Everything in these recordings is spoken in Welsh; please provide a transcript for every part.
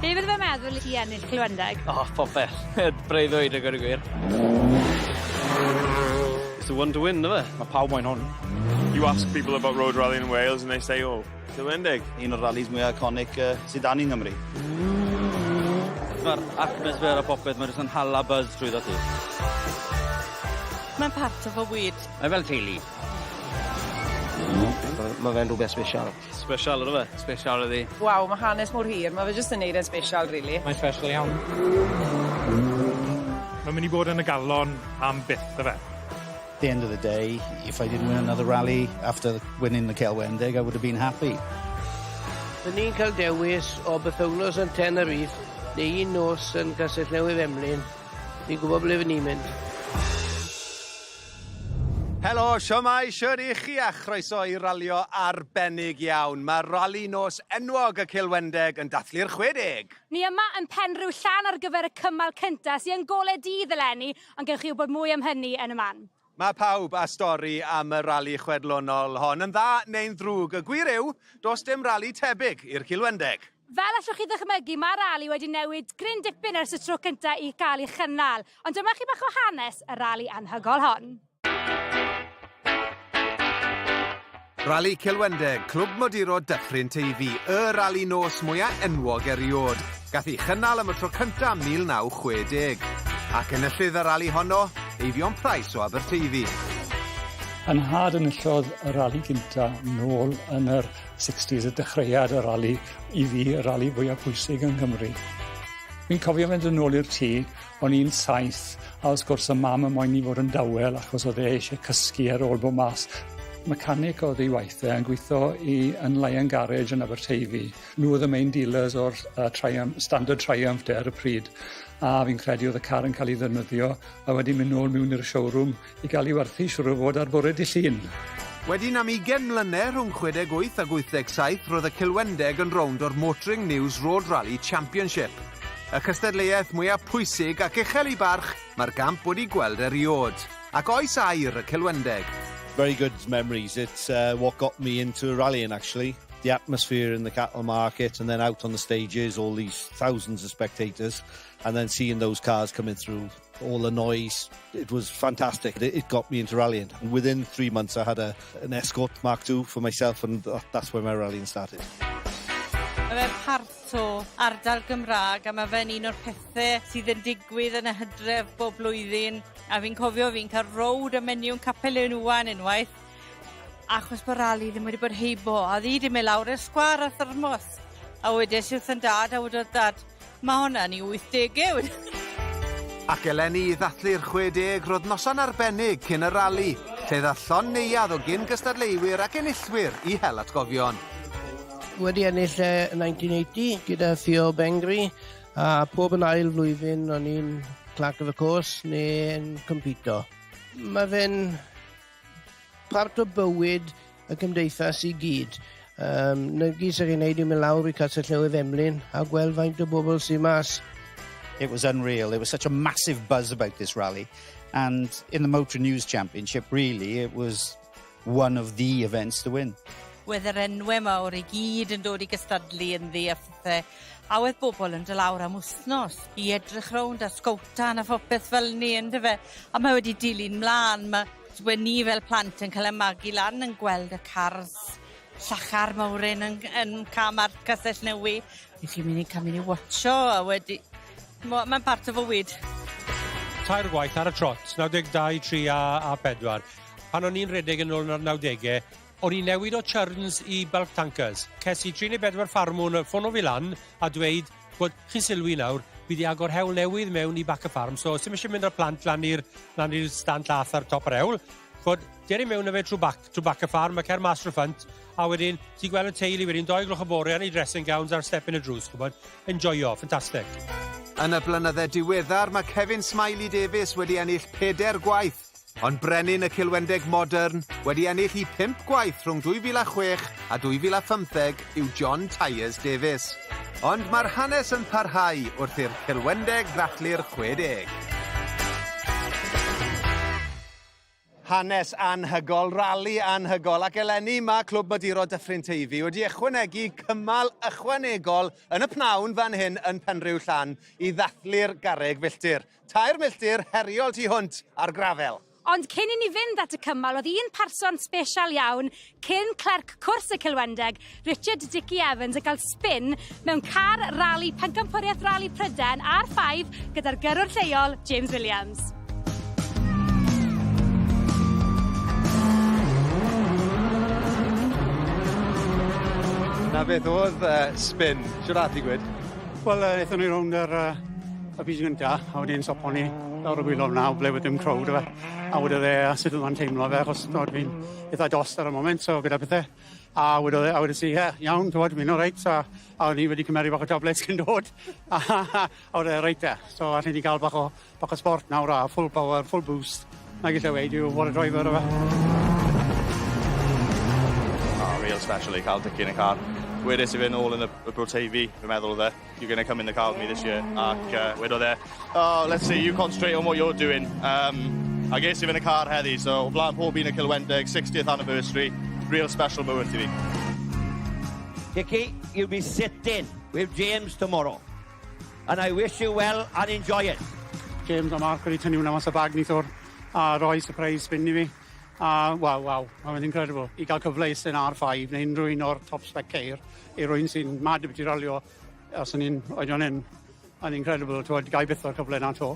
Be' fydde fe'n meddwl i ti ennill Clwendeg? O popeth. Breuddwyd a gweud y gwir. It's the one to win yfe? Ma' pawb moyn hwn. You ask people about road rallying in Wales and they say oh Cymrendig. Un o'r rallies mwyaf iconic uh, sydd dan i Nghymru. Mae'r atmosfer a popeth, mae'n rhywbeth yn hala buzz trwy dda ti. Mae'n part o fy wyd. Mae fel teulu. Mae fe'n rhywbeth special. Special, ydw fe? Special ydi. Waw, mae hanes mor hir. Mae fe jyst yn neud e'n special, really. Mae'n special iawn. Mae'n mynd i bod yn y galon am byth, ydw fe? the end of the day if I didn't win another rally after winning the Celwendeg I would have been happy. Dyn ni'n cael dewis o bythownos yn Tenerife neu un nos yn Castell Newydd Emlyn. Ni'n gwybod ble fy ni'n mynd. Helo, siomai, siwr i chi a chroeso i ralio arbennig iawn. Mae rali nos enwog y Cilwendeg yn dathlu'r 60! Ni yma yn Penrhiw Llan ar gyfer y cymal cyntaf sy'n yn gole dydd eleni Ond gewch chi wybod mwy am hynny yn y man. Mae pawb â stori am y rali chwedlonol hon, yn dda neu'n ddrwg. Y gwir yw, does dim rali tebyg i'r Cilwendeg. Fel allwch chi ddychmygu, mae'r rali wedi newid gryn dipyn ers y tro cyntaf i gael ei chynnal. Ond dyma chi bach o hanes y rali anhygoel hon. Rali Cilwendeg, Clwb Moduro Dyffryn Teifi, y rali nos mwya enwog eriod. Gath ei chynnal am y tro cynta 1960. Ac enillydd y rali honno, Eifion Price o Aberteifi. Yn nhad enillodd y rali gynta nôl yn yr 60s y dechreuad y rali i fi y rali fwyaf pwysig yng Nghymru. Fi'n cofio fynd yn ôl i'r tŷ O'n i'n saith a wrth gwrs y mam yn moyn i fod yn dawel achos o'dd e eisie cysgu ar ôl bo' mas. Mechanic o'dd ei waith e yn gwitho i yn Lion Garage yn Aberteifi. Nw o'dd y main dealers o'r yy Trium- standard Triumph de ar y pryd a fi'n credu o'dd y car yn ca'l 'i ddefnyddio a wedyn myn' nôl miwn i'r showroom I gael ei warthu, siŵr o fod, ar fore dydd Llun. Wedyn am ugain mlynedd, rhwng chwedeg wyth ac wythdeg saith, roedd y Cilwendeg yn rownd o'r Motoring News Road Rally Championship. Y cystadleuaeth mwyaf pwysig ac uchel i barch mae'r gamp wedi gweld eriôd. Ac oes air y Cilwendeg? Very good memories, it's uh, what got me into rallying actually. The atmosphere in the cattle market and then out on the stages, all these thousands of spectators and then seeing those cars coming through, all the noise. It was fantastic. It got me into rallying. And within three months, I had a, an Escort Mark II for myself, and that's where my rallying started. Mae fe'n parth o ardal Gymraeg a mae fe'n un o'r pethau sydd yn digwydd yn y hydref bob blwyddyn. A fi'n cofio fi'n cael rowd y menyw yn Capel Ein Iwan unwaith Achos bod Ali ddim wedi bod heibo, a oedd hi wedi mynd lawr i'r sgwâr a thyrmos. A wedes i wrth yn dad, a wedodd dad, mae hwnna yn ei 80au. Ac eleni i ddathlu'r 60 roedd noson arbennig cyn y rali, lle ddaeth llond neuadd o gyn-gystadleuwyr ac enillwyr i hel atgofion. Wedi ennill e 1980 gyda Theo Bengri, a pob yn ail flwyddyn o'n i'n Clerk of the Course neu'n compito. Mae fe'n part o bywyd y cymdeithas i gyd. Um, na gyd sy'n ei wneud i mynd lawr i Castell Newydd Emlyn a gweld faint o bobl sy'n mas. It was unreal. There was such a massive buzz about this rally. And in the Motor News Championship, really, it was one of the events to win. Wedd yr enwau mawr i gyd yn dod i gystadlu yn ddi a phethau. A wedd bobl yn dod lawr am wsnos i edrych rownd a sgowtan a phopeth fel ni, yn dyfe? A mae wedi dilyn mlân, ma'... we' ni fel plant yn cael y magu lan yn gweld y cars llachar mowr 'yn yn g- yn ca'l marc Castell Newy, nes i myn' i ca'l myn' i watsio a wedi... Ch'mo', ma'n part o fywyd. Tair gwaith ar y trot, naw deg dau, tri a a pedwar. Pan o'n i'n rhedeg yn ôl yn yr nawdege, o'n i'n newid o churns i bulk tankers. Ces i tri neu bedwar ffarmwr yn ffono fi lan a dweud Ch'mod, chi'n sylwi nawr, fi 'di agor hewl newydd mewn i Back a Farm, so os ti'm isie mynd â'r plant lan i'r lan i'r stan llath ar top yr hewl, ch'mod, ger i mewn â fe trw bac, trw Back a Farm, a cer mas trw ffrynt, a wedyn ti'n gweld y teulu wedyn dou gloch y fore yn eu dressing gowns ar step yn y drws, ch'mod, enjoio, ffantastic. Yn y blynydde diweddar, mae Kevin Smiley Davies wedi ennill peder gwaith Ond brenin y Cilwendeg modern, wedi ennill i phump gwaith rhwng 2006 a 2015, yw John Tyers Davies. Ond mae'r hanes yn parhau wrth i'r Cilwendeg ddathlu'r 60. Hanes anhygol, rali anhygol ac eleni mae Clwb Maduro Dyffryn Teifi wedi ychwanegu cymal ychwanegol yn y pnawn fan hyn yn Penrhiwllan i ddathlu'r garreg filltir. Tair milltir heriol tu hwnt ar grafel. Ond cyn i ni fynd at y cymal, oedd un person special iawn, cyn clerc cwrs y Cilwendeg, Richard Dickie Evans, yn cael spin mewn car rali Pencampwriaeth Rali Pryden ar 5 gyda'r gyrrwr lleol, James Williams. Na beth oedd uh, spin, siwr ati gwyd? Wel, uh, eithon ni rownd yr uh, Y pishyn gynta a wedyn sopo ni lawr y gwilod f'na o ble wedd dim crowd yfe a wedodd e a sut o'dd o'n teimlo fe achos t'mod fi'n itha dost ar y foment so gyda pethe a wedodd e a wedes i ie iawn t'mod fi'n oreit a a o'n i wedi cymharu bach o tablets cyn dod a wedodd e reit te so allen i ga'l bach o bach o sbort nawr a full power full boost nag elle weud yw what a driver yfe? Oh real special i ca'l dwckin y car. Wedes i fe nôl yn y y bwrt Hy-Vee fi'n meddwl o'dd e. You're going to come in the car with me this year. Ac uh, wedodd e, oh, let's see, you concentrate on what you're doing. Um, a ges i fy yn y car heddi, so o blaen pob un y Cilwendeg, 60th anniversary, real special moment i fi. Dickie, you'll be sitting with James tomorrow. And I wish you well and enjoy it. James a Mark wedi tynnu hwnna mas o bag nithwr a roi surprise spin i fi. A waw, waw, mae'n incredible. I gael cyfle i sy'n R5 neu unrhyw un o'r top spec ceir. I rywun sy'n mad ambiti ralio, os o'n i'n oedran hŷn, yn incredible, t'wod, gai byth y cyfle 'na 'to.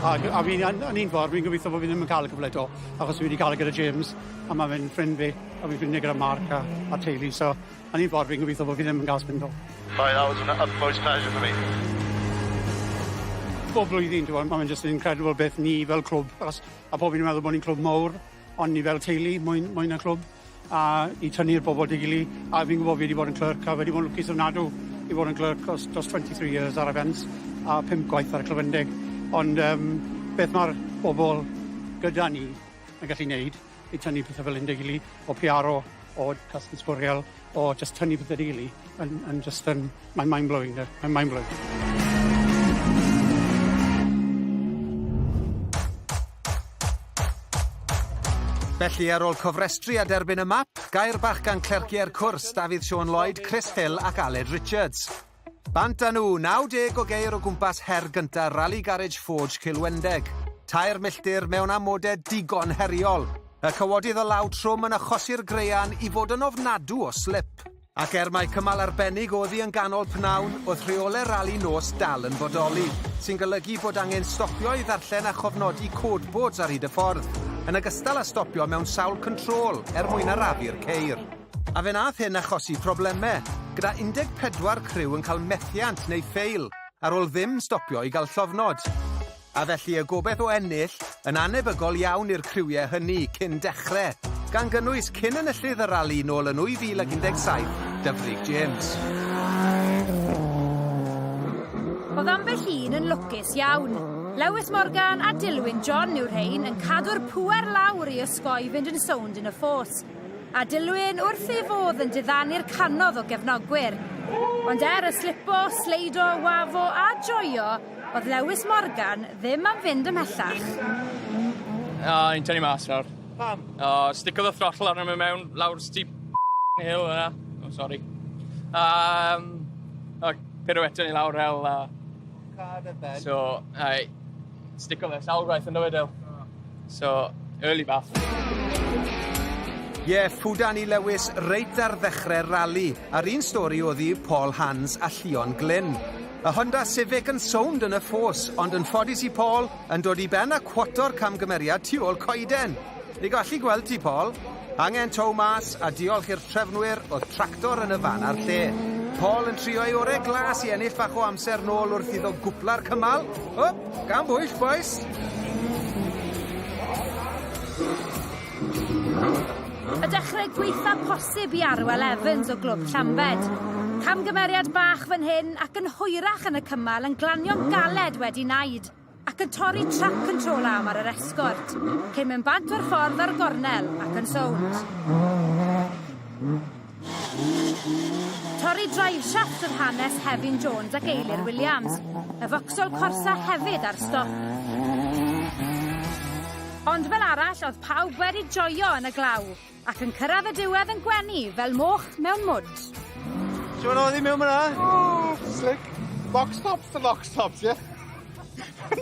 A g- a fi yn yn un ffordd, fi'n gobeithio bo' fi ddim yn ca'l y cyfle 'to, achos fi wedi ca'l e gyda James, a ma' fe'n ffrind fi, a fi'n ffrindie gyda Mark a a'r teulu, so yn un ffordd fi'n gobeithio bo' fi ddim yn ga'l spin 'to. Right, that was an utmost pleasure for me. Bob blwyddyn, t'mod, ma' fe'n jyst yn incredible beth ni fel clwb, achos, a pob un yn meddwl bo' ni'n clwb mowr, Ond ni fel teulu, mwy mwy na clwb a i tynnu'r bobl at ei gily a fi'n gwbo fi 'di bod yn clerk a fi 'di bod yn lwcus ofnadw i fod yn clerk dros dros twenty three years ar y Fens a pump gwaith ar y Clwfyndig ond yym beth ma'r bobl gyda ni yn gallu neud i tynnu pethe fel 'yn 'da 'i gily o piaro O casglu sbwriel, o jyst tynnu pethe rili yn yn jyst yn mae'n mind blowing 'de, mae'n mind blowing. Felly ar ôl cofrestru a derbyn y map, gair bach gan clercie'r cwrs, Dafydd Siôn Lloyd, Chris Hill ac Aled Richards. Bant â nhw, 90 o geir o gwmpas her gyntaf Rally Garage Forge Cilwendeg. Tair milltir mewn amodau digon heriol. Y cawodydd o law trwm yn achosi'r graean i fod yn ofnadw o slip. Ac er mai cymal arbennig oedd hi yn ganol pnawn, oedd rheolau rali nos dal yn bodoli, sy'n golygu bod angen stopio i ddarllen a chofnodi code boards ar hyd y ffordd, yn ogystal â stopio mewn sawl control er mwyn arafu'r ceir. A fe wnaeth hyn achosi problemau, gyda 14 criw yn cael methiant neu ffeil ar ôl ddim stopio i gael llofnod. A felly y gobaith o ennill yn annebygol iawn i'r criwiau hynny cyn dechrau, gan gynnwys cyn enillydd y rali nôl yn 2017, Dyfrig James. Oedd ambell un yn lwcus iawn. Lewis Morgan a Dilwyn John yw'r rhein yn cadw'r pŵer lawr i osgoi fynd yn sownd yn y ffos. a dilyn wrth ei fodd yn diddanu'r canodd o gefnogwyr. Ond er y slipo, sleido, wafo a joio, oedd Lewis Morgan ddim am fynd ymhellach. O, i'n tynnu mas nawr. Pam? O, stickodd y throttle arno mi mewn lawr steep hill yna. O, oh, sori. Um, o, pirouette ni lawr hel. Uh, so, ai, Stico fe, sawl gwaith yndo fe Dale? So, early bath. Ie, yeah, fu Danny Lewis reit ar ddechrau'r rali, a'r un stori oedd i Paul Hans a Llion Glyn. Y Honda Civic yn sownd yn y ffos, ond yn ffodus i Paul, yn dod i ben a cwato'r camgymeriad tu ôl coeden. I gallu gweld ti, Paul, angen tow mas a diolch i'r trefnwyr oedd tractor yn y fan a'r lle. Paul yn trio ei orau glas i ennill fach o amser nôl wrth iddo gwpla'r cymal. O, gan bwyll, boys! Y dechrau gweitha posib i Arwel Evans o Glwb Llambed. Camgymeriad bach fan hyn ac yn hwyrach yn y cymal yn glanio'n galed wedi naid. ac yn torri trac control arm ar yr esgort, cyn mynd bant o'r ffordd ar gornel ac yn sownd. Torri driveshaft oedd hanes Hefin Jones ac Eilir Williams, y focsol corsa hefyd ar stop. Ond fel arall, oedd pawb wedi joio yn y glaw. Ac yn cyrraedd y diwedd yn gwenu fel moch mewn mwd. Shwd oedd hi mewn ma'na? Oh, slick. Box tops to box tops, ie?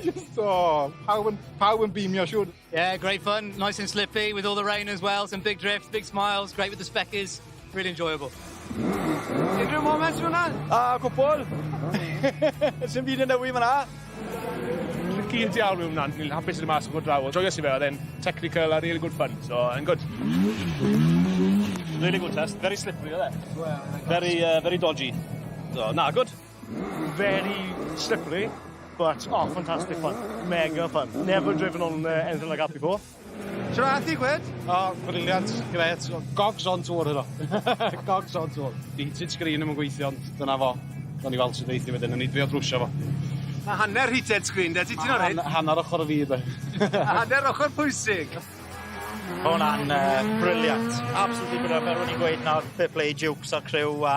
Just, oh, pawb yn, pawb yn beamio, siwr. Yeah, great fun, nice and slippy, with all the rain as well, some big drifts, big smiles, great with the speckies, really enjoyable. Unrhyw moments fyn 'na? A cwpwl. Sim byd yn newid fyn 'na. Tricky yn diawl yw wnna, ni'n hapus i fod mas o draw, ond joyous i fe, oedd e'n technical a really good fun, so yn gwd. Really good test, very slippery oedd e. Very, uh, very dodgy. So, na, gwd. Very slippery, but oh, fantastic fun. Mega fun. Never driven on uh, anything like that before. Shwmae a ti Gwed? O brilliant, grêt, gogs on tour heno. Gogs on tour. Di heated screen 'im yn gweithio ond dyna fo. Gawn ni weld sud eith 'i wedyn, newn ni drio drwsio fo. Ma' hanner heated screen 'de, ti'n ti'n oreit? Ma' han- hanner ochor o fi 'de. A hanner ochor pwysig. Ma' wnna'n yy brilliant. Absolutely brilliant fel o'n i'n gweud nawr fair play i Jukes a'r criw a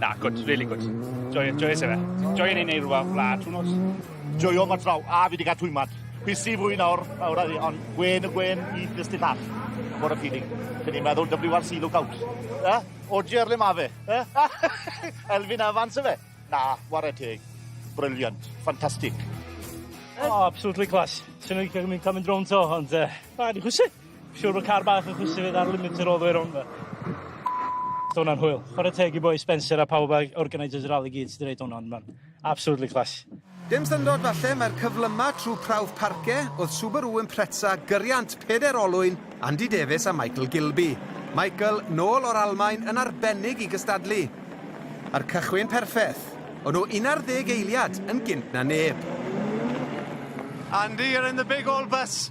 Na, good, really good. Joio, joio se fe. Joio ni'n neud rhywbeth fla, trwy nos. Joio ma draw, a fi wedi cael twymad. Fi si fwy nawr, nawr adi, ond gwen y gwen i ddysgu llall. Bod y pili. Dyn ni'n meddwl WRC lookout. E? O ger le ma fe? E? Elfyn Evans y fe? Na, ware teg. Brilliant. Ffantastig. Oh, absolutely class. Swn i'n cael mynd drown to, ond... Uh, na, di chwysu. Siŵr bod car bach yn chwysu fi ar limiter all the way round 'ma. Oedd hwnna'n hwyl. Chwarae teg i boi Spencer a pawb ag organisers y rali gyd sydd 'di wneud hwn ond mae'n absolutely class. Dim syndod falle mai'r cyflymau trwy prawf Parke oedd Subaru Impreza gyriant peder olwyn Andy Davies a Michael Gilby. Michael, nôl o'r Almaen, yn arbennig i gystadlu. A'r cychwyn perffeth. O'n nhw un ar ddeg eiliad yn gynt na neb. Andy, you're in the big old bus.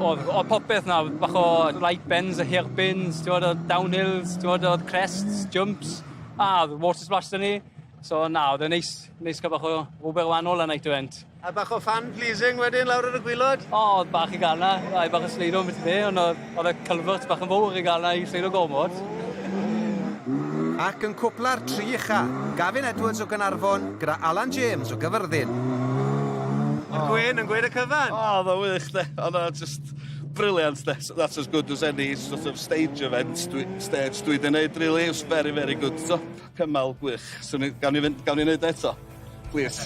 Odd odd popeth 'na bach o light bends a hair pins t'mod o'dd downhills t'mod o'dd crests, jumps a o'dd water splash 'da ni so na o'dd e'n neis neis ca'l bach o rwbeth wanol ar Night Went. A bach o fan pleasing wedyn lawr ar y gwilod? O o'dd bach i ga'l 'na rai bach o sleido ambell i dde on' o'dd Oedd y culvert bach yn fawr i gael yna i seilo gormod. Ac yn cwpla'r tri ucha, Gavin Edwards o Gaernarfon gyda Alan James o Gyfyrddin. Mae Gwyn yn gweud y cyfan! O, oedd o'n wych de, oedd o'n just brilliant de. That's as good as any sort of stage event, stage dwi 'di neud rili, it was very, very good t'o. Cymal gwych. Swn i... Gawn ni fynd... Gawn ni neud o eto? Plîs.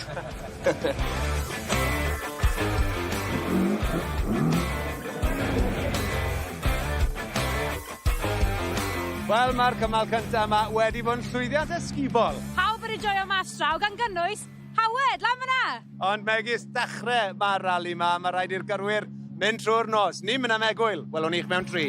Wel, ma'r cymal cynta' yma wedi bod yn llwyddiant ysgubol! Pawb wedi joio mas draw, gan gynnwys... Howard, lan fyna! Ond megis dechrau mae'r rali ma, mae rhaid i'r gyrwyr mynd trwy'r nos. Ni'n mynd am egwyl, welwn ni'ch mewn tri.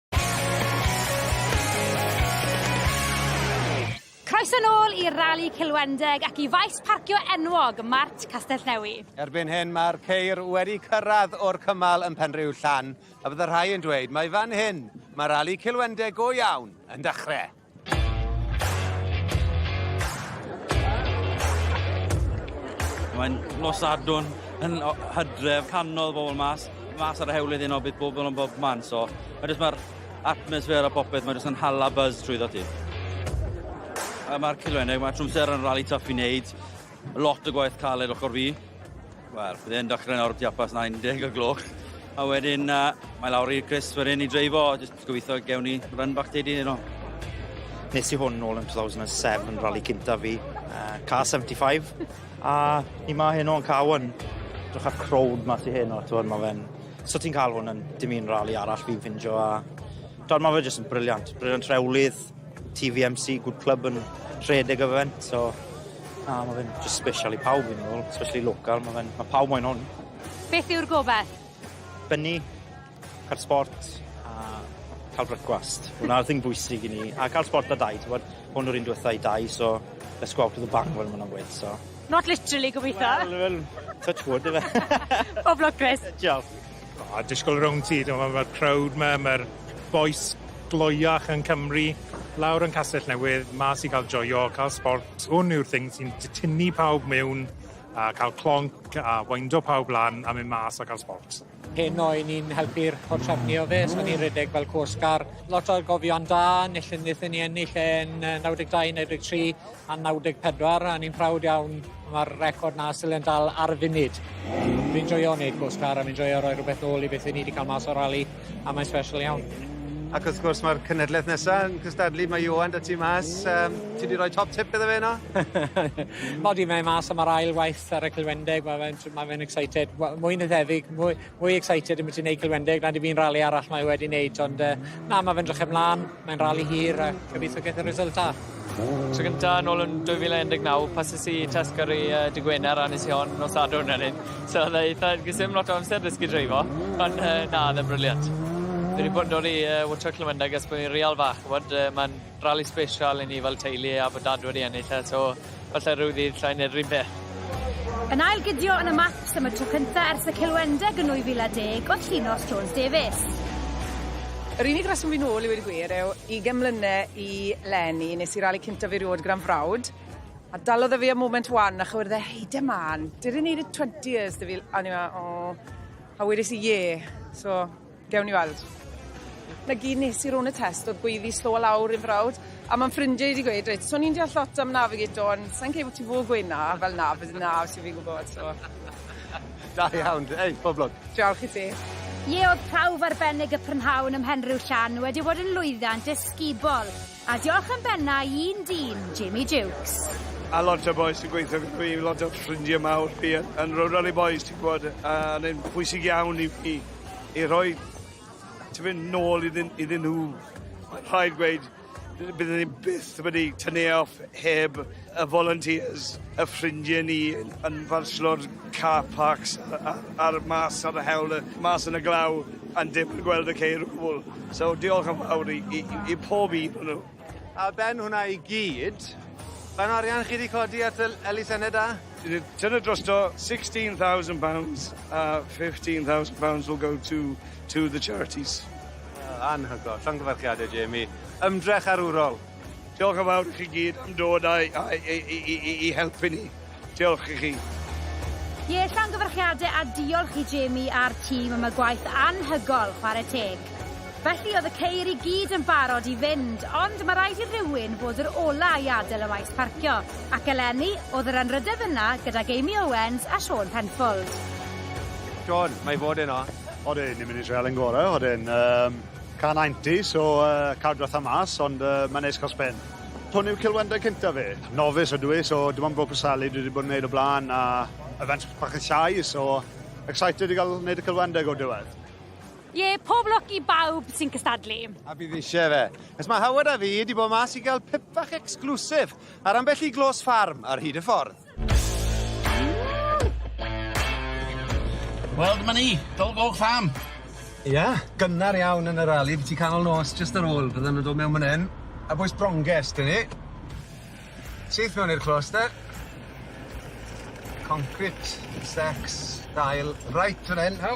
Croeso nôl i Rali Cilwendeg ac i faes parcio enwog Mart Castellnewy. Erbyn hyn mae'r ceir wedi cyrraedd o'r cymal yn Penrhyw Llan a bydd y rhai yn dweud mai fan hyn mae Rali Cilwendeg go iawn yn dechrau. Mae'n nos Sadwrn yn hydref, canol bobl mas, mas ar y hewlydd un o beth bobl yn bob man, so mae jyst mae'r atmosffer a popeth, mae jyst yn hala buzz trwy ddod ti. A mae'r cilwennig, mae trwmser yn rali tough i wneud, lot o gwaith caled ochr fi. Wel, bydd e'n dechrau nawr tiapas 90 o gloch. A wedyn, uh, mae lawr i'r Chris wedyn i dreifo, just So gobeithio gewn ni run back day di heno. Nes i hwn nôl yn 2007, rally cynta fi, uh, car 75, a ni ma heno yn car 1. Drwch ar crowd ma ti heno, ti'n ma fe'n... So ti'n cael hwn yn dim un rally arall fi'n ffindio, a... Dwi'n ma fe jyst yn briliant, briliant rhewlydd, TVMC, good club yn rhedeg o fe'n, so Na, mae fe'n just special i pawb yn ôl, especially local, mae fe'n, mae pawb moyn hwn. Beth yw'r gobaith? Benni, Cael sport a ca'l brecwast. Hwnna'r thing bwysig i ni a ca'l sport 'da dai t'mod? Hwn yw'r un dwetha i dai so let's go out to the bang fel ma' nw'n gweud so. Not literally gobitho. Wel wel touch wood yfe? Pob lwc Chris. Diolch. O disgwl rownd ti t'mo' ma'r crowd 'ma ma'r bois gloiach yn Cymru lawr yn Castell Newydd mas i ga'l joio ca'l sport hwn yw'r thing sy'n t- tynnu pawb miwn a ca'l clonc a windo pawb lan a myn' mas a ca'l sport. Heno i ni'n helpu'r portrefi o fe, so ni'n redeg fel coast guard. Lot o gofion da, nethon nethon ni ennill e'n 92, 93 a 94 a ni'n proud iawn ma'r record 'na stil yn dal ar y funud. Fi'n joio neud coast guard a fi'n joio roi rwbeth nôl i beth 'yn ni 'di ca'l mas o'r rali a mae'n special iawn. Ac wrth gwrs ma'r cenedleth nesa yn cystadlu mae Ioan 'da ti mas yym ti 'di roi top tip iddo fe 'no? Mod i mae mas am yr ail waith. Sarra Culwendeg ma' fe'n ma' fe'n excited we- mwy na thebyg mwy mwy excited ambyti neud Culwendeg nag i fi yn rali arall mae e wedi neud ond yy na ma' fe'n 'drych e mlan mae'n rali hir a gobitho geith e result da. Tro gynta nôl yn dwy fil a un deg naw pases i test gyrru yy dy' Gwener a nes i hon nos Sadwrn a neud so odd e eitha ges i ddim lot o amser dysgu dreifo ond yy na odd e'n briliant. Fi 'di bod yn dod i yy Water Culwendeg ers bo' fi'n real fach ch'mod yy ma'n Rali sbesial i ni fel teulu a bod dad wedi ennill e so falle ryw ddydd 'llai neud 'r un peth. Yn ail gydio yn y Maths am y tro cynta ers y Cilwendeg yn 2010 oedd Llinos Jones Davies. Yr unig reswm fi nôl i weud y gwir yw ugen mlyne i leni nes i rali cyntaf eriôd gyda'n frawd a dalodd e fi am moment wan a chywirdd e hei de man did it need a 20 yrs da fi a o'n i fel o a wedis i ie so Gewn ni weld. 'Na gyd nes i rownd y test o'dd gweiddi slo a lawr i'n frawd a ma' 'n ffrindie i 'di gweud reit so o'n i'n deall lot am navigator ond sai'n credu bo' ti fod gweud 'na fel 'na fydd 'na os yw fi'n gwbod so. Da iawn. Ei, pob lwc. Diolch i ti. Ie o'dd prawf arbennig y prynhawn ym Mhenrhiwllan wedi bod yn lwyddiant ysgubol. A diolch yn benna i un dyn, Jamie Jukes. A lot o bois sy'n gweithio gyda fi, lot o ffrindiau mawr fi yn, yn Rowdali Bois, ti'n gwybod, a yn pwysig iawn i fi i rhoi ti'n mynd nôl iddyn, iddyn nhw. Rhaid gweud, byddwn ni byth wedi tynnu e off heb y volunteers, y ffrindie ni yn fanslo'r car parks a a'r mas ar y hewl yy mas yn y glaw yn dim yn gweld y ceir o gwbwl. So diolch yn fawr i i i i pob un o nw. Ar ben hwnna i gyd, faint o arian chi 'di codi at y l- elusenne da? Dwi 'di tynnu drosto sixteen thousand pounds a fifteen thousand pounds will go to to the charities. Anhygol. Llongyfarchiade Jamie. Ymdrech arwrol. Diolch yn fawr i chi gyd am dod a, a, i, i, i, i helpu ni. Diolch i chi. Ie, llongyfarchiadau a diolch i Jamie a'r tîm am y gwaith anhygol, chwarae teg. Felly oedd y ceir i gyd yn barod i fynd, ond mae rhaid i rywun fod yr ola i adael y maes parcio, ac eleni oedd yr anrhydedd yna gydag Amy Owens a Siôn Penfold. Siôn, mae fod yno. Oedd e'n un munud treial yn gorau, oedd e'n... Um... Can haentus o yy Cardwell a Mas ond yy mae'n neis ca'l sbel. Hwn yw ceulwendau cynta fi. Novice ydw i so dim ond Bro Preseli dwi 'di bod yn neud o bla'n a events bach yn llai so excited i ga'l neud y celwendeg o'r diwedd. Ie, pob lwc i bawb sy'n cystadlu. A bydd isie fe. Nes ma Howard a fi 'di bod mas i ga'l pip fach exclusive ar ambell i glos ffarm ar hyd y ffordd. Wel, dyma ni, Dol Goch Farm. Ia, gynnar iawn yn yr ali, byti canol nos jyst ar ôl, bydden nhw'n dod mewn man 'yn, a bwys bronges dyn ni. Syth mewn i'r clos de. Concrit, secs, dail, reit fan 'yn, haw!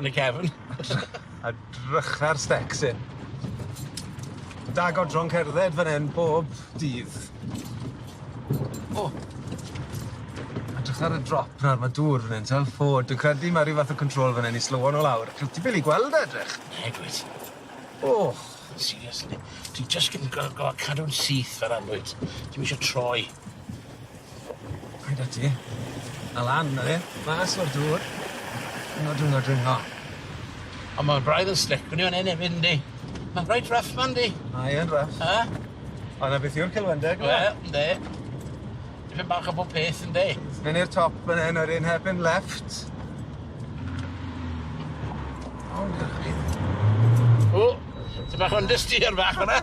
yn y cefn. A drycha'r stecs hyn. Da godron cerdded fan hyn bob dydd. O! A drycha'r y drop nawr, ma' dŵr fan hyn, t'wel? O, dwi'n credu ma' ryw fath o control fan hyn i slywo nw lawr. Ca'l ti bil i gweld e edrych. Ie, dwyt. O! Seriously. Dwi jyst gin- go- go- cadw'n syth fel 'a 'n dwyt? Dwi'm isio troi. Hei 'da ti. A lan â fe mas o'r dŵr. Dwyngo dwyngo dwyngo. On' ma' braidd yn slic fyn 'yn efyd yndi? Ma'n reit rough 'ma yndi? Mae yn rough. Yy? A 'na beth yw'r celfyndeg yma. Wel, ynde. Dipyn bach o bob peth yndi? Myn' i'r top fyn 'yn wedyn hairpin left. O 'na chi. O! Ty' bach o understeer bach fyn 'na.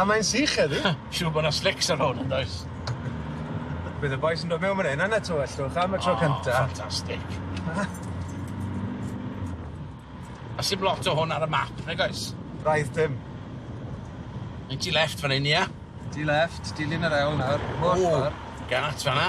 A mae'n sych heddi. Siŵr bo' 'na slics ar hwn yndoes? Bydd y bois yn dod mewn man 'yn a 'na tywellwch am y tro cynta. O, ffantastic. A sim lot o hwn ar y map, nag oes? Braidd dim. Myn' ti left fan 'yn ia? Ti left, dilyn yr ewl nawr, mor ffor. O! Gât fan 'na.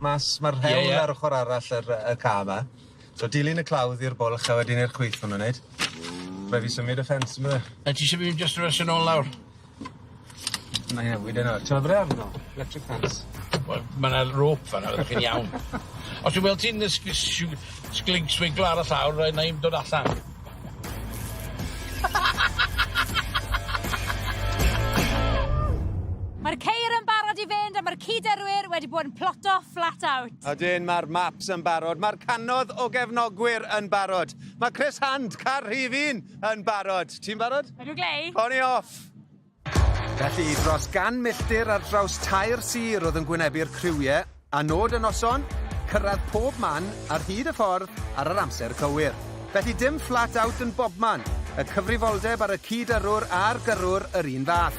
mas, ma'r rhewl yeah, yeah. ar ochr arall yr, y ca yma. So dilyn y clawdd i'r bwlch a wedyn i'r chwith hwnnw'n neud. Rhaid fi symud y ffens yma. A ti eisiau mynd just yn resyn ôl lawr? Na ie, wyd yna. Ti'n meddwl arno? Electric fence. Wel, mae yna rope fan yna, chi'n iawn. Os dwi'n weld ti'n sglinc swiglo ar y llawr, rhaid na i'n dod allan. Mae'r ceir yn barod i fynd a mae'r cyd-yrwyr wedi bod yn ploto flat out. Ydyn, mae'r maps yn barod, mae'r cannoedd o gefnogwyr yn barod. Mae Chris Hand, Caerhifin, yn barod. Ti'n barod? Ydw, Glei. Oni off! Felly, dros gan milltir ar draws tair sir oedd yn gwynebu'r criwie, a nod y noson, cyrraedd pob man ar hyd y ffordd ar yr amser cywir. Felly dim flat out yn bobman, y cyfrifoldeb ar y cyd-yrrwr a'r gyrrwr yr un fath.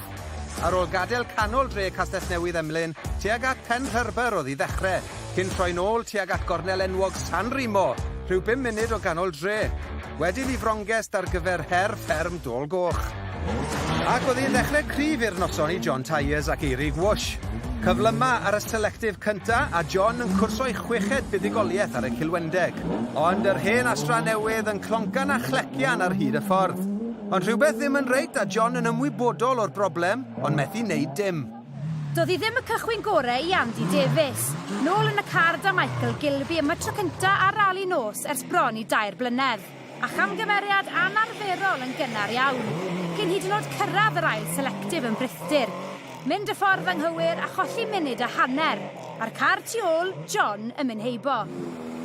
Ar ôl gadael canol dre Castellnewydd Emlyn, tuag at Penrhyrbyr oedd i ddechrau, cyn troi'n ôl tuag at gornel enwog San Remo, rhyw bum munud o ganol dre. Wedyn i Froncest ar gyfer her fferm Dôl Goch. Ac oedd hi'n ddechrau cryf i'r noson i John Tyers ac Eirig Wsh. Cyflyma ar y selectif cynta a John yn cwrso'i chweched buddugoliaeth ar y Cilwendeg. Ond yr hen Astra newydd yn cloncan a chlecian ar hyd y ffordd. Ond rhywbeth ddim yn reit a John yn ymwybodol o'r broblem ond methu neud dim. Doedd hi ddim y cychwyn gorau i Andy Davies. Nôl yn y car 'da Michael Gilby am y tro cyntaf ar rali nos ers bron i dair blynedd, a chamgymeriad anarferol yn gynnar iawn, cyn hyd yn oed cyrraedd yr ail selectif yn brithdir. Mynd y ffordd anghywir a cholli munud a hanner, a'r car tu ôl, John, yn mynd heibo.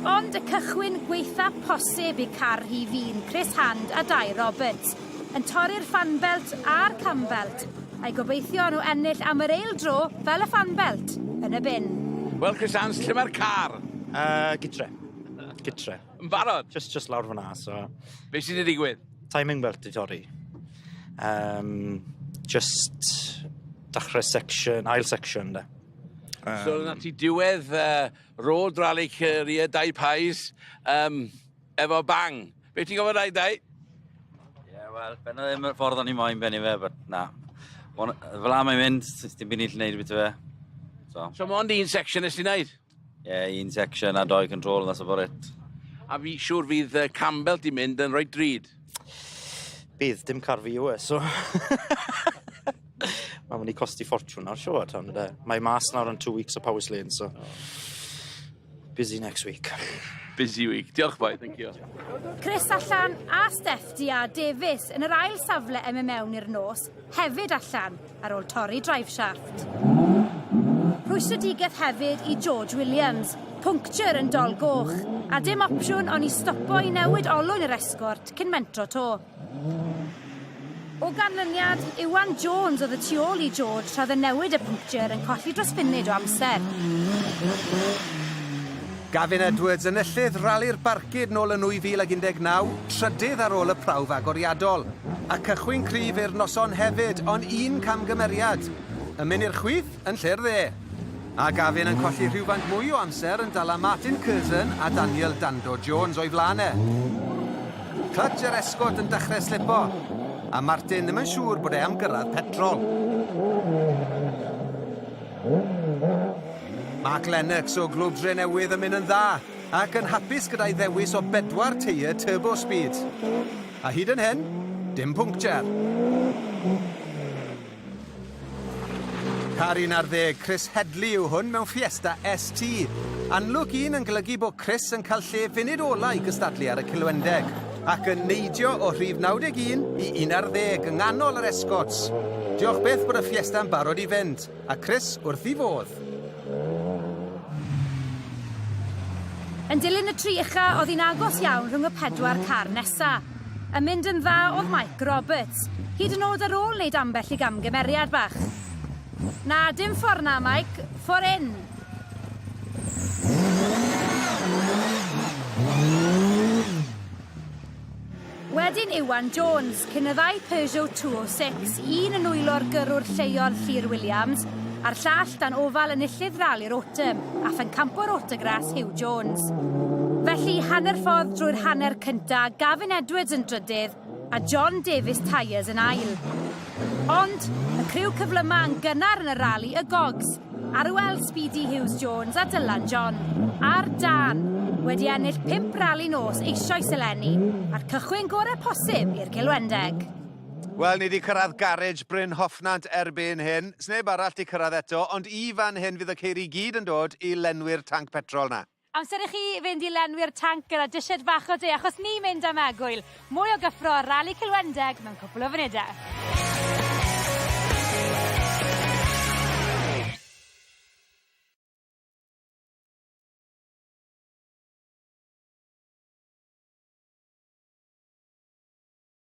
Ond y cychwyn gwaetha posib i car rhif un, Chris Hand a Dai Roberts, yn torri'r fanfelt a'r camfelt, I gobeithio nhw ennill am yr eil dro fel y Fan Belt yn y bin. Wel Chrisanne, lle mae'r car? Uh, gytre. Gytre. Yn barod? Just, just lawr fyna, so... Be sydd wedi digwydd? Timing belt i torri. Um, just dachrau section, ail section, da. Um, so, na ti diwedd uh, road rally Cyria Dau Pais. Um, Efo bang. Be ti'n gofod rhaid dau? Ie, wel, ben oedd ddim y ffordd o'n i moyn benni fe, but na. Fel am ei mynd, ti'n byd ni'n lle neud beth fe. So, so mond un section nes ti'n neud? Ie, yeah, un section a doi control, that's about it. A fi siŵr fydd uh, Campbell di mynd yn rhoi drud. Bydd, dim car fi yw e, so... Mae'n mynd i costi ffortiwn nawr, siwr, tan y de. Mae mas nawr yn two weeks o Powis Lane, so... Oh. Busy next week. Busy week. Diolch boi, thank you. Chris allan a Steph di a Davies yn yr ail safle em y mewn i'r nos, hefyd allan ar ôl torri driveshaft. Rhwystredigaeth hefyd i George Williams, puncture yn dol goch, a dim opsiwn ond i stopo i newid olwyn yr esgort cyn mentro to. O ganlyniad, Iwan Jones oedd y tu ôl i George tra oedd e'n newid y pwnctiau yn colli dros funud o amser. Gavin Edwards, enillydd Rali'r Barcud nôl yn 2019, trydydd ar ôl y prawf agoriadol. A cychwyn cryf i'r noson hefyd, ond un camgymeriad. Yn mynd i'r chwith? yn lle'r dde, a Gavin yn colli rhywfaint mwy o amser yn dala Martin Curzon a Daniel Dando Jones o'i flaen e. Clutch yr esgort yn dechrau slipo, a Martin ddim yn siŵr bod e am gyrraedd petrol. Mark Lennox o Glwb Dre Newydd yn mynd yn dda, ac yn hapus gyda'i ddewis o bedwar teir turbo speed. A hyd yn hyn, dim pwnctiau. Car 11, Chris Headley yw hwn mewn Fiesta ST. Anlwc un yn golygu bod Chris yn cael lle funud ola i gystadlu ar y Cilwendeg, ac yn neidio o rhif 91 i 11 yng nghanol yr escorts. Diolch byth bod y Fiesta yn barod i fynd, a Chris wrth i fodd. Yn dilyn y tri ucha, oedd hi'n agos iawn rhwng y pedwar car nesa. Yn mynd yn dda oedd Mike Roberts, hyd yn oed ar ôl wneud ambell i gamgymeriad bach. Na, dim ffordd na, Mike. Ffordd hyn. Wedyn Iwan Jones, cyn y ddau Peugeot 206, un yn nwylo'r gyrrwr lleol Llŷr Williams, a'r llall dan ofal enillydd Rali'r Autumn a phencampwr Autogras Huw Jones. Felly, hanner ffordd drwy'r hanner cynta, Gavin Edwards yn drydydd a John Davies Tyres yn ail. Ond, y criw cyflyma yn gynnar yn y rali y Gogs, Arwel Speedy Hughes Jones a Dylan John, a'r Dan, wedi ennill pimp rali nos eisoes eleni, a'r cychwyn gorau posib i'r Cilwendeg. Wel, ni 'di cyrraedd garej Bryn Hoffnant erbyn hyn. Sneb arall 'di cyrraedd eto, ond i fan hyn fydd y ceiri i gyd yn dod i lenwi'r tanc petrol 'na. Amser i chi fynd i lenwi'r tanc gyda disied fach o de, achos ni'n mynd am egwyl! Mwy o gyffro ar Rali Cilwendeg mewn cwpl o funudau.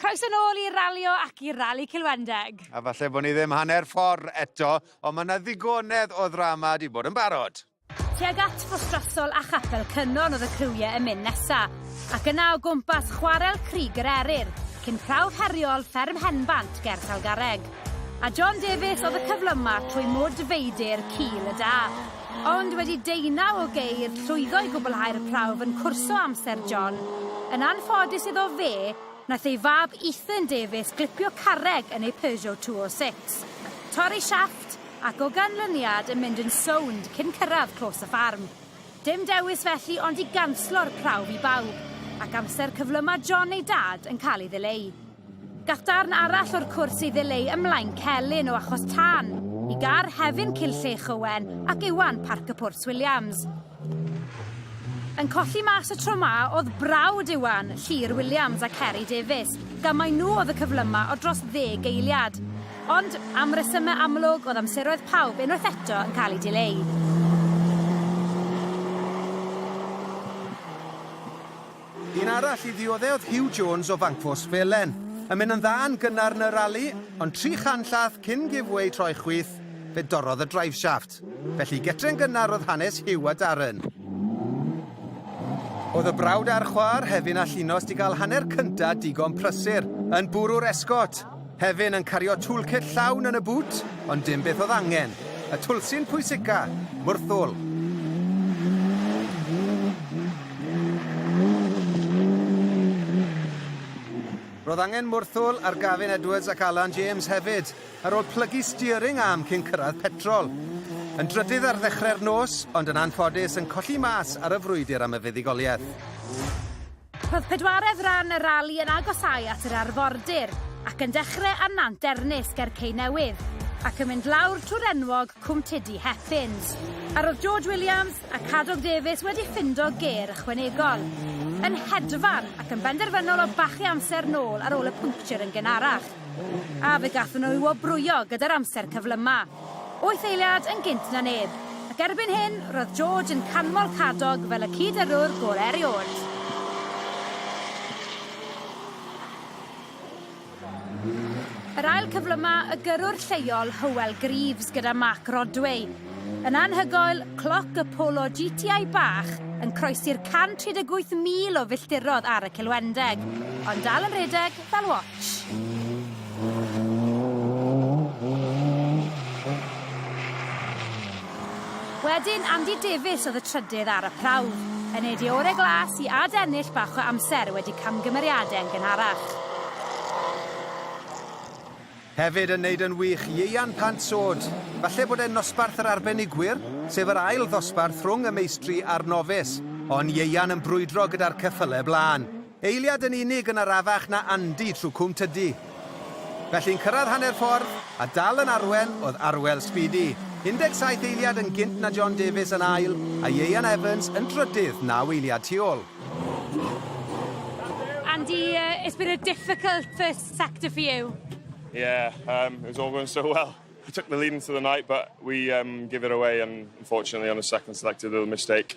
Croeso nôl i Ralio ac i Rali Cilwendeg. A falle bod ni ddim hanner ffordd eto, ond mae yna ddigonedd o ddrama wedi bod yn barod. Tuag at Frostrasol a Chapel Cynon oedd y criwiau yn mynd nesa, ac yna o gwmpas chwarel Crig yr Eryr, cyn prawf heriol fferm Henfant ger Talgarreg. A John Davies oedd y cyflyma trwy Mwd Feidir, Cil y Da. Ond wedi deunaw o geir llwyddo i gwblhau'r y prawf yn cwrso amser John. Yn anffodus iddo fe, nath ei fab Ethan Davies glipio carreg yn ei Peugeot 206, torri siafft ac o ganlyniad yn mynd yn sownd cyn cyrraedd clos y ffarm. Dim dewis felly ond i ganslo'r prawf i bawb, ac amser cyflyma John ei dad yn cael ei ddileu. Gall darn arall o'r cwrs ei ddileu ym Mlaen Celyn o achos tân i gar Hefin Cill Llech Owen ac Iwan Parc y Pwrs Williams. Yn colli mas y tro ma oedd brawd Iwan, Llyr Williams a Ceri Davies, gan mai nhw oedd y cyflyma o dros ddeg eiliad. Ond, am resymau amlwg, oedd amseroedd pawb unwaith eto yn cael ei dileu. Un arall i ddiodde' oedd Huw Jones o Fancfos Felen. Yn mynd yn dda yn gynnar yn y rali, ond tri chan llath cyn giveaway troi chwith, fe dorrodd y driveshaft. Felly getre'n gynnar oedd hanes Huw a Darren. Oedd y brawd a'r chwa'r hefin a Llinos 'di gael hanner cynta' digon prysur, yn bwrw'r esgot. Hefin yn cario toolkit llawn yn y bŵt, ond dim beth oedd angen. Y twlsi'n pwysica, mwrthwl. Roedd angen mwrthwl ar Gavin Edwards ac Alan James hefyd, ar ôl plygu steering arm cyn cyrraedd petrol. Yn drydydd ar ddechrau'r nos, ond yn anffodus yn colli mas ar y frwydr am y fuddugoliaeth. Roedd pedwaredd ran y rali yn agosáu at yr arfordir ac yn dechrau ar Nant Ernys ger Cei Newydd ac yn mynd lawr trwy'r enwog Cwm Tydi Heffyns. A roedd George Williams a Cadog Davies wedi ffindo gêr ychwanegol. Yn hedfan ac yn benderfynol o bachu amser nôl ar ôl y puncture yn gynharach. A fe gathon nhw i wobrwyo gyda'r amser cyflyma. Wyth eiliad yn gynt na neb, ac erbyn hyn roedd George yn canmol Cadog fel y cyd-yrrwr gorau erioed. Yr ail cyflyma y gyrrwr lleol Hywel Greaves gyda Mark Rodway. Yn anhygoel, cloc y Polo GTI bach yn croesi'r 138,000 o filltirodd ar y Cilwendeg, ond dal yn rhedeg fel watch. Wedyn Andy Davies oedd y trydydd ar y prawf, yn neud ei ore glas i ad ennill bach o amser wedi camgymeriade yn gynharach. Hefyd yn neud yn wych Ieuan Pant Sod, falle bod e'n nosbarth yr arbenigwyr, sef yr ail ddosbarth rhwng y meistri a'r nofis, ond Ieuan yn brwydro gyda'r ceffyle blaen. Eiliad yn unig yn arafach na Andy trw Cwm Tydi. Felly'n cyrradd hanner ffordd, a dal yn arwen oedd Arwel Speedy, 17 eiliad yn gynt na John Davies yn ail, a Ieuan Evans yn drydydd naw eiliad tu ol. Andy, uh, it's been a difficult first sector for you. Yeah, um, it was all going so well. I took the lead into the night, but we um, give it away, and unfortunately on the second selected little mistake.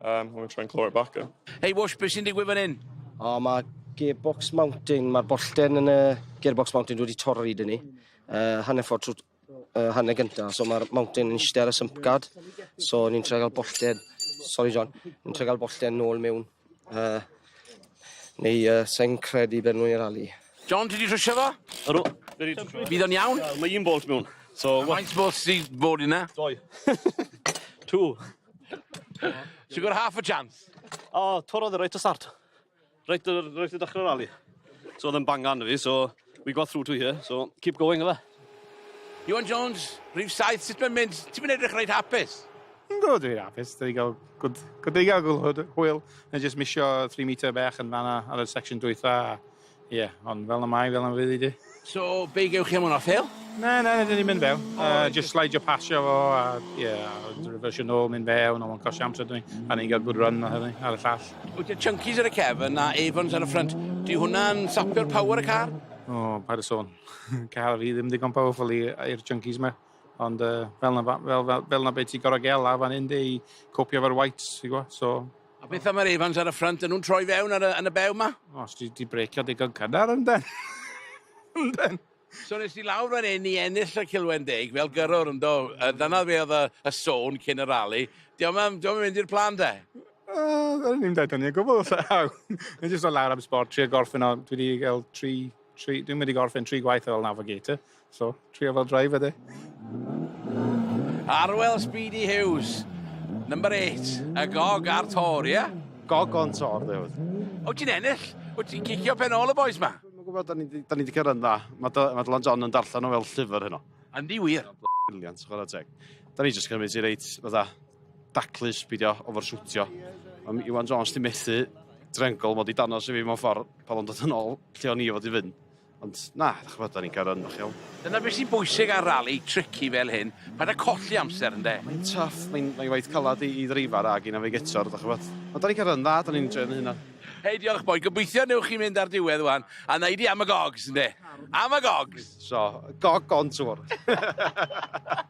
Erm I'm gonna try and claw it back then. Hei Whoosh, be sy'n digwydd fan hyn? O ma gearbox mounting, ma'r bollten yn y gearbox mounting wedi torri dyn ni. Uh, hanner ffordd trwy uh, hanner gynta, so ma'r mounting yn eistedd ar y sump guard. So ni'n trio gael bollten, sorry John, ni'n trio gael bollten nôl mewn. Uh, neu uh, sa'n credu beth nhw'n i'r ali. John, ti wedi trwsio fo? Ydw. Bydd o'n iawn? Mae un bolt mewn. So, Faint bolt sy'n bod yna? Doi. Two. She got half a chance. O, oh, torodd e reit o start. Reit, reit o dechrau'r rally. So oedd yn bang gan fi, so we got through to here, so keep going efe. Iwan Jones, rhif saith, sut mae'n mynd? Ti'n mynd edrych reit hapus? Yn gwybod dwi'n hapus, da ni gael good, good da ni gael gwrdd hwyl, yn just misio 3 metre bech yn fanna ar y section dwytha, Ie, yeah, ond fel na mai, fel na fydd i di. So, be gewch chi am hwnna, fel? Na, na, na, ni'n mynd fel. Oh, uh, just slide your pasio fo, a ie, yeah, reversio nôl, mynd fel, ond o'n cosio amser dwi. A ni'n cael good run ar hynny, ar y llall. Wyt ti chunkies ar y cef yna, Evans ar y ffrant. Di hwnna'n sapio'r power y car? O, oh, paid y sôn. car fi ddim digon powerful i'r chunkies yma. Ond uh, fel, na, fel, fel, fel na beth ti'n gorau gael a fan hyn di i copio fo'r whites, ti'n gwybod? So, A beth am yr Evans ar y ffrynt? Yn nhw'n troi fewn ar y, yn y bew ma? O, os di, di breicio digon cynnar yn den. yn den. So nes i lawr fan hyn i ennill y cilwen deg fel gyrrwr yn do. Uh, dyna fe oedd y, y sôn cyn y rali. Diolch am, diolch am mynd i'r plan de. Uh, Rydyn ni'n dweud hynny o gwbl. Ni'n jyst o lawr am sport, tri o gorffen o, dwi wedi cael tri, tri, dwi'n wedi gorffen tri gwaith fel navigator. So, trio fel driver de. Arwel Speedy Hughes, number 8, y gog ar tor, ie? Yeah? Gog on tor, dde hwyd. O ti'n ennill? O ti'n cicio pen ôl y boys ma? Mae'n gwybod, da ni wedi cyrraedd dda. Mae Dylan John yn darllen o fel llyfr heno. Andy wir. Briliant, chwarae teg. Da ni jyst cymryd ti reit, fatha, daclus, bidio, ofer siwtio. Am Iwan Jones di methu drengol, mod i danos i fi mewn ffordd pan o'n dod yn ôl lle o'n i fod i fynd. Ond na, dych ch'mod, 'dan ni'n cario ymlaen, iawn. Dyna beth sy'n bwysig ar rali tricky fel hyn, paid â colli amser ynde? Mae'n tough, mae'n mae waith calad i, i ddreifar ag i navigator, dych ch'mod. Ond 'dan ni'n cario yn dda, 'dan ni'n enjoio'n hunan. Hei, diolch boi, gobeithio newch chi mynd ar diwedd wan, a neud i am y gogs ynde? Am y gogs! So, gog on tour.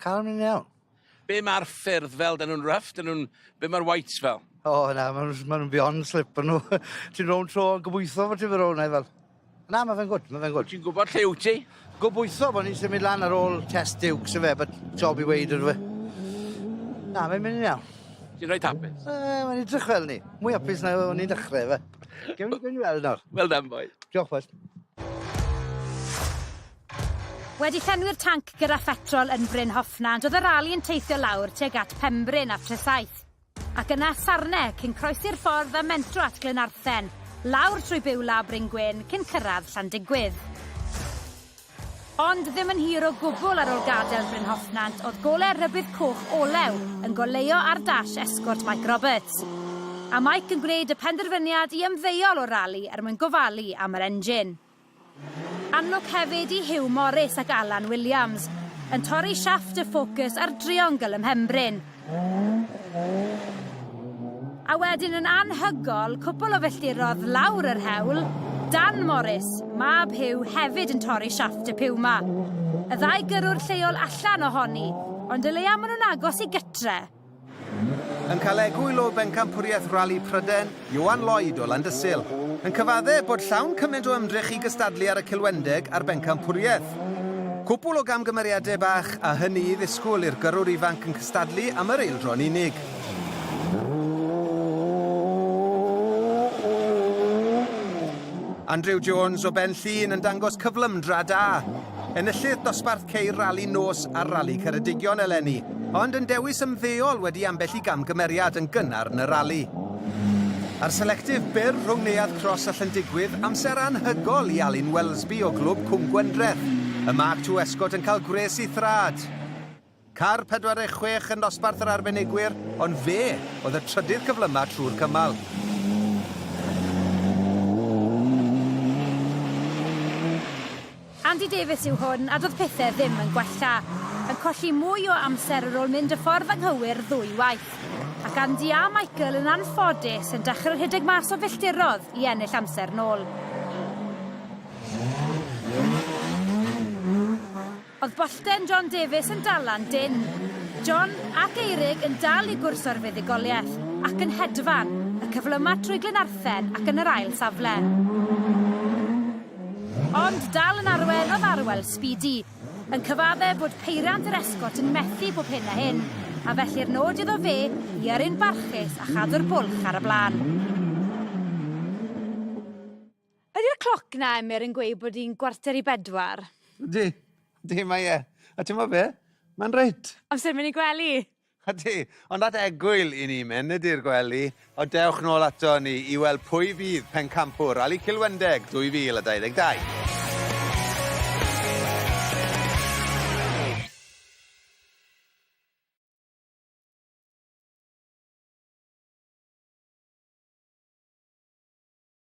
Calm yn iawn. Be mae'r ffyrdd fel? Dyn nhw'n rough? Dyn nhw'n... Be mae'r whites fel? O, oh, na, maen nhw'n ma nhw beyond slip nhw. ti'n rownd tro yn gobeithio fod ti'n fy rownd fel. Na, mae fe'n gwrdd, mae fe'n gwrdd. Ti'n gwybod lle wyt ti? Gobeithio bod ni'n symud lan ar ôl test diwcs y fe, but job i weid ydw fe. Na, mae'n mynd i'n iawn. Ti'n rhaid hapus? E, mae'n edrych fel ni. Mwy hapus na o'n i'n dechrau fe. Gewn ni weld nawr. Well done, boy. Diolch, boys. Wedi llenwi'r tanc gyda phetrol yn Bryn Hoffnant, oedd y rali yn teithio lawr tuag at Pembryn a Tresaith, ac yna at Sarne, cyn croesi'r ffordd a mentro at Glynarthen, lawr trwy Beulah a Bryn Gwyn, cyn cyrraedd Llandygwydd. Ond ddim yn hir o gwbl ar ôl gadael Bryn Hoffnant, oedd golau rhybudd coch olew yn goleuo ar dash esgort Mike Roberts. A Mike yn gwneud y penderfyniad i ymddeol o'r rali er mwyn gofalu am yr engine. Annog hefyd i Huw Morris ac Alan Williams, yn torri siafft y ffocws ar driongl ym mhenbryn. A wedyn yn anhygoel, cwpl o filltirodd lawr yr hewl, Dan Morris, mab Huw hefyd yn torri siafft y piw 'ma. Y ddau gyrrwr lleol allan ohoni, ond o leia ma nhw'n agos i gytre. Yn cael egwyl o Bencampwriaeth Rali Pryden, Ioan Lloyd o Landysul, yn cyfadde bod llawn cymaint o ymdrech i gystadlu ar y Cilwendeg a'r Bencampwriaeth. Cwpwl o gamgymeriadau bach, a hynny i ddisgwyl i'r gyrrwr ifanc yn cystadlu am yr eildro'n unig. Andrew Jones o Benllyn yn dangos cyflymdra da. Enillydd dosbarth ceir Rali Nos a Rali Ceredigion eleni, ond yn dewis ymddeol wedi ambell i gamgymeriad yn gynnar yn y rali. A'r selectif byr rhwng Neuadd Cros a Llyndigwydd, amser anhygol i Alun Welsby o Glwb Cwm Gwendreth. Y Mark to Escort yn cael gwres i thraed. Car 46 yn nosbarth yr arbenigwyr, ond fe oedd y trydydd cyflyma trwy'r cymal. Andy Davies yw hwn, a doedd pethau ddim yn gwella. Yn colli mwy o amser ar ôl mynd y ffordd anghywir ddwy waith. Ac Andy a Michael yn anffodus yn dechrau rhedeg mas o filltirodd i ennill amser nôl. Oedd bollten John Davies yn dalan dynn. John ac Eirig yn dal i gwrs o'r fuddugoliaeth, ac yn hedfan, y cyflyma trwy Glynarthen ac yn yr ail safle. Ond dal yn arwen oedd Arwel Speedy, yn cyfadde bod peiriant yr esgot yn methu bob hyn a hyn, a felly'r nod iddo fe i yrru'n barchus a chadw'r bwlch ar y blaen. Ydy'r cloc 'na, Emyr, yn gweud bod hi'n gwarter i bedwar? Ydy. Ydy, mae e. A ti'n be? Mae'n reit. Amser mynd i gwely. Ydy, ond at egwyl i ni mynd, ydy'r gwely. O dewch nôl ato ni i weld pwy fydd pencampwr Rali Cilwendeg 2022.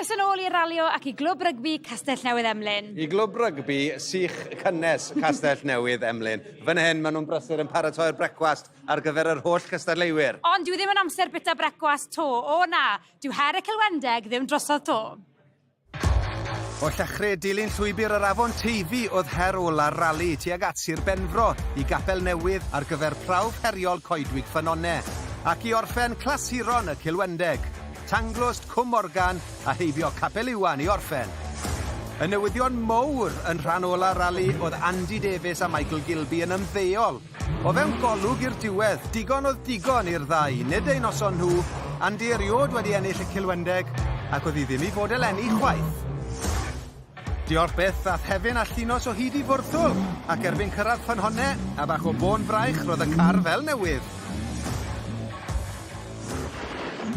Croeso nôl i Ralio ac i Glwb Rygbi Castell Newydd Emlyn. I Glwb Rygbi sych cynnes Castell Newydd Emlyn. Fan hyn, maen nhw'n brysur yn paratoi'r brecwast ar gyfer yr holl gystadleuwyr. Ond dyw e ddim yn amser bita brecwast 'to, o na, dyw her y Celwendeg ddim drosodd 'to. O Llychre, dilyn llwybr yr afon Teifi oedd her ola'r rali tuag at Sir Benfro i Gapel Newydd ar gyfer prawf heriol Coedwig Ffynonne, ac i orffen clasuron y Cilwendeg, Tanglwst, Cwm Morgan a heibio Capel Iwan i orffen. Y newyddion mowr yn rhan ola'r rali oedd Andy Davies a Michael Gilbey yn ymddeol O fewn golwg i'r diwedd, digon oedd digon i'r ddau, nid eu noson nhw, Andy eriôd wedi ennill y Cilwendeg, ac oedd hi ddim i fod eleni chwaith. Diolch byth, ath Hefin a Llinos o hyd i Fwrthwl, ac erbyn cyrraedd Ffynhonne, a bach o bôn fraich, roedd y car fel newydd.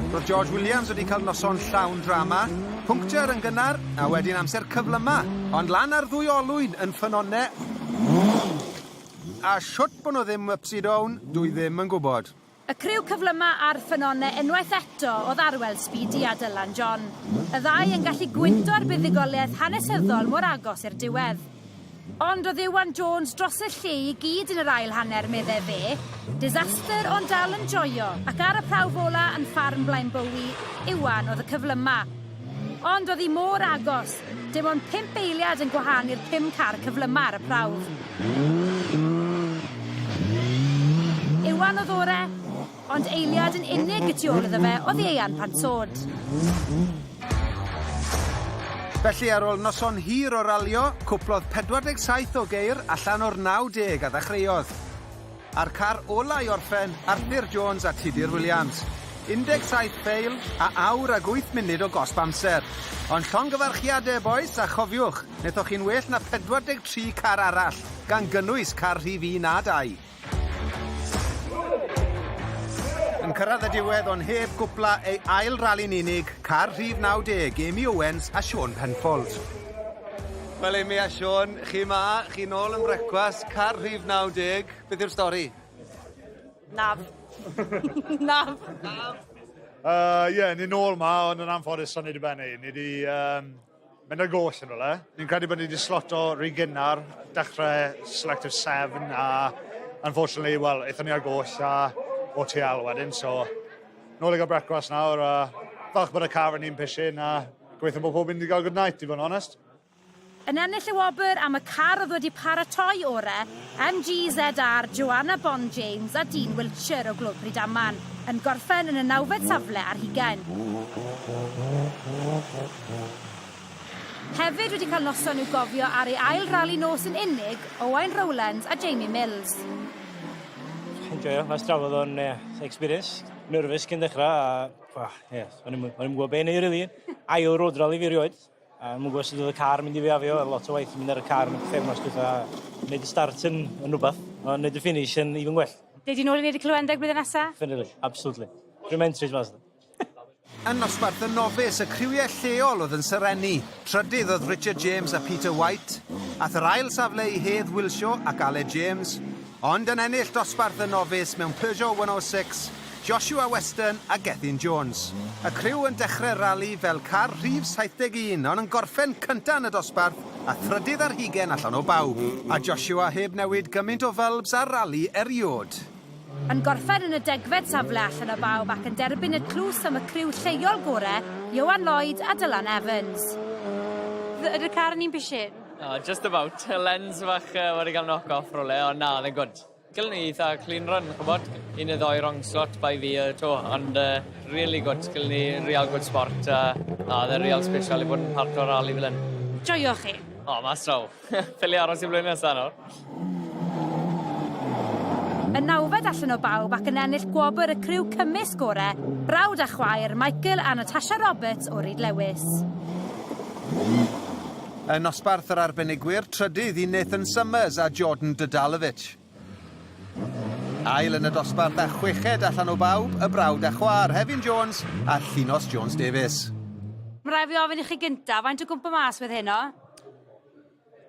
Roedd George Williams wedi cael noson llawn drama, puncture yn gynnar, a wedyn amser cyflyma, ond lan ar ddwy olwyn yn Ffynhonne, A shwt bo nhw ddim upsy down, dw i ddim yn gwybod. Y criw cyflyma a'r ffynone unwaith eto o ddarwel Speedy a Dylan John. Y ddau yn gallu gwyndo ar buddugoliaeth hanesyddol mor agos i'r diwedd. Ond oedd Iwan Jones dros y lle i gyd yn yr ail hanner medde fe. Disaster ond dal yn joio ac ar y prawf ola yn ffarm Blaenbowie, Iwan oedd y cyflyma. Ond o'dd 'i mor agos, dim ond pump eiliad yn gwahanu'r pum car cyflyma' ar y prawf. Iwan o'dd ore', ond eiliad yn unig y tu ôl iddo fe o'dd Ieuan Pansaud. Felly ar ôl noson hir o ralio, cwplodd 47 o geir allan o'r 90 a ddechreuodd. A'r car ola' i orffen, Arthur Jones a Tudur Williams. 17 peil, a awr ag wyth munud o gosb amser. Ond llongyfarchiade, bois, a chofiwch, nethoch chi'n well na 43 car arall, gan gynnwys car rhif un a dau. Yn cyrraedd y diwedd ond heb gwpla ei ail rali'n unig, car rhif 90, Amy Owens a Sean Penfold. Wel Amy a Siôn, chi 'ma, chi nôl yn Brecwast, car rhif 90, beth yw'r stori? Naf. Naf. Naf. Uh, ie, yeah, ni nôl 'ma, ond yn anffodus o'n i wedi bennu. Ni wedi um, mynd ar goll yn rhywle. Ni'n credu bod ni wedi sloto rhy gynnar, dechrau Selective 7, a unfortunately, wel, eithon ni ar goll a OTL wedyn, so nôl i gael brecwast nawr, a falch bod y car yn un pishin, a Gweithio bod pob un wedi cael good night, i fod yn onest. Yn ennill y wobr am y car oedd wedi paratoi ore, MG ZR Joanna Bond James a Dean Wiltshire o Glwb Rydaman, yn gorffen yn y nawfed safle ar hugain. Hefyd wedi cael noson i'w gofio ar ei ail rali nos yn unig, Owain Rowlands a Jamie Mills. Enjoio, mas drafodd o'n uh, experience. Nervous cyn dechrau a Wel, ie, yes. o'n i'n gwybod beth neu rili. Ail road rally fi rioed. A mwyn gwybod sydd oedd y car mynd i fi afio, a lot o waith yn mynd ar y car yn y ffefnos gyda wneud y start yn, yn rhywbeth, a wneud y finish yn even gwell. Dei di nôl i wneud y clywendeg blwyddyn nesa? Definitely, absolutely. Rwy'n mentris mas. Yn nosbarth y nofus, y criwiau lleol oedd yn serennu. Trydydd oedd Richard James a Peter White. Ath yr ail safle i Hedd Wilshaw ac Ale James. ond yn ennill dosbarth y Nofis mewn Peugeot 106, Joshua Weston a Gethin Jones. Y criw yn dechrau'r rali fel car rhif 71 ond yn gorffen cyntaf yn y dosbarth a thrydydd ar hugain allan o bawb. A Joshua heb newid gymaint o fylbs ar rali eriod. Yn gorffen yn y degfed safle allan o bawb ac yn derbyn y tlws am y criw lleol gorau, Ioan Lloyd a Dylan Evans. Ydy'r car yn un pisin? Oh, just about. Y lens fach uh, wedi cael knock off rolau, ond na, oedd e'n gwrdd. Gyllen ni eitha clean run, chybod, un y ddoi wrong slot by fi y to, ond uh, really good, gyllen ni real good sport, a uh, na, oedd e'n real special i fod yn part o'r rally fel hyn. Joio chi? O, oh, mas draw. Ffili aros i flwyddyn nesaf nawr. Yn nawfed allan o bawb ac yn ennill gwobr y criw cymysg gore, brawd a chwaer Michael a Natasha Roberts o Ryd Lewis. Yn nosbarth yr arbenigwyr, trydydd i Nathan Summers a Jordan Dodalovic. Ail yn y dosbarth a chweched allan o bawb, y brawd a chwaer, Hefin Jones a Llinos Jones-Davies. Mae'n rhaid fi ofyn i chi gyntaf, faint o gwmpa mas wedd heno?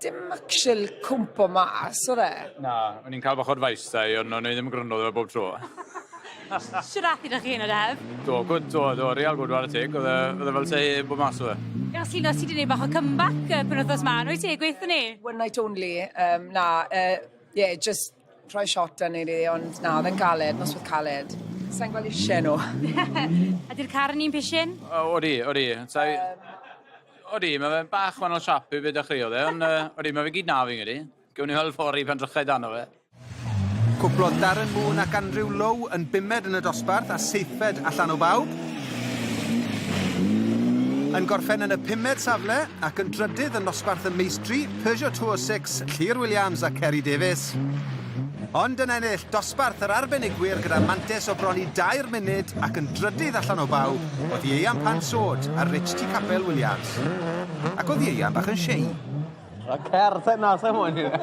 Dim actual cwmpo mas odd e. Na, o'n i'n ca'l bach o advice 'da 'i on' o'n i ddim yn gryndo iddo fe bob tro. Shwd ath 'da chi yn yr haf? Do good do do real good ware teg odd e odd e fel sai 'eb bo' mas odd e. Fel ti'n os ti 'di neud bach o comeback y penwthnos 'ma yn wyt ti gweutho ni? One night only yym na yy ie jyst rhoi shot da neu rili, ond na, oedd e'n galed, noswaith caled. Sa'n gweld eisiau nhw. A di'r car yn un pishin? O, odi, odi. So, um, odi, mae fe'n bach wahanol siap i beth dechreuodd e, ond uh, odi, mae fe gyd na fi'n gyda. Gwyn ni weld ffordd i pan drychau dan o fe. Cwplodd Darren Moon ac Andrew Lowe yn bumed yn y dosbarth a seithfed allan o bawb. Yn gorffen yn y pumed safle ac yn drydydd yn nosbarth y meistri, Peugeot 206, Llŷr Williams a Ceri Davies. Ond yn ennill dosbarth yr arbenigwyr gyda mantes o bron i dair munud ac yn drydydd allan o baw oedd Ieuan Pan Sod a Rich T Capel Williams. Ac oedd Ieuan bach yn shei. A cer te na se moyn i fe.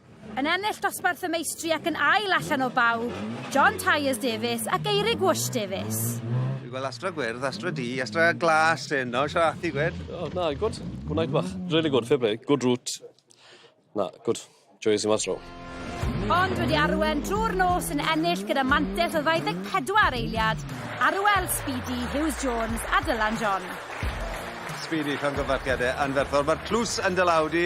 Yn ennill dosbarth y meistri ac yn ail allan o bawb, John Tyers Davies ac Eirig Whoosh Davies. Dwi'n gweld Astra Gwyrdd, Astra Du, Astra Glas yn no, siarad ati gwed. Oh, na, good. Good night bach. Really good, fair play. Good route. Na, good. Joyous i mas row. Ond wedi arwen drwy'r nos yn ennill gyda mantell o 24 eiliad, Arwel Speedy, Hughes Jones a Dylan John. Speedy, llongyfarchiadau anferthol. Mae'r tlws yn dy law di.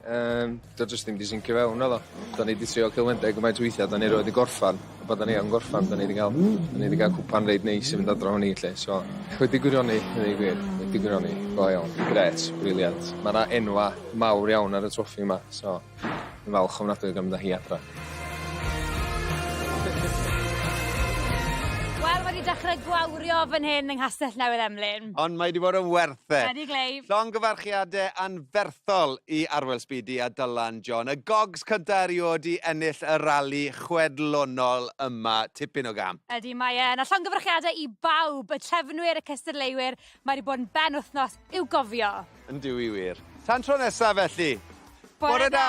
Yym do' jyst dim 'di sincio fewn naddo? 'Dan ni 'di trio celfyddydau gymaint o weithia' 'dan ni rioed 'di gorffan a pan 'dan ni yn gorffan 'dan ni 'di ga'l 'dan ni 'di ga'l cwpan reit neis i fynd adra efo ni 'lly so wedi gwirioni gneud y gwir wedi gwirioni go iawn. Grêt, briliant. Ma' 'na enwa' mawr iawn ar y twoffi 'ma so dwi falch ofnadwy o ga'l mynd â hi adra. Wel ma' 'di dechre gwawrio fan hyn yng Nghastell Newydd Emlyn. Ond mae 'di bod yn werth e. Ydi Glei. Llongyfarchiade anferthol... hethol i Arwel Speedy a Dylan John, y gogs cynta erioed i ennill y rali chwedlonol yma, tipyn o gam. Ydy, mae e'n. A llongyfarchiadau i bawb, y trefnwyr, y cystadleuwyr, mae wedi bod yn benwythnos i'w gofio. Yndw i wir. Tan tro nesaf felly. Bore da!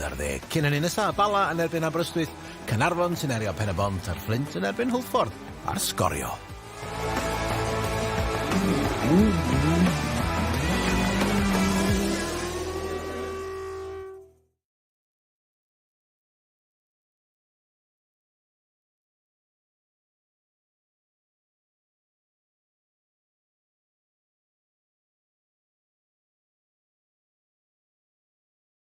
11. Cyn hynny nesa, Bala yn erbyn Aberystwyth, Caernarfon sy'n erio Pen-y-bont a'r Fflint yn erbyn Hwlffordd ar sgorio.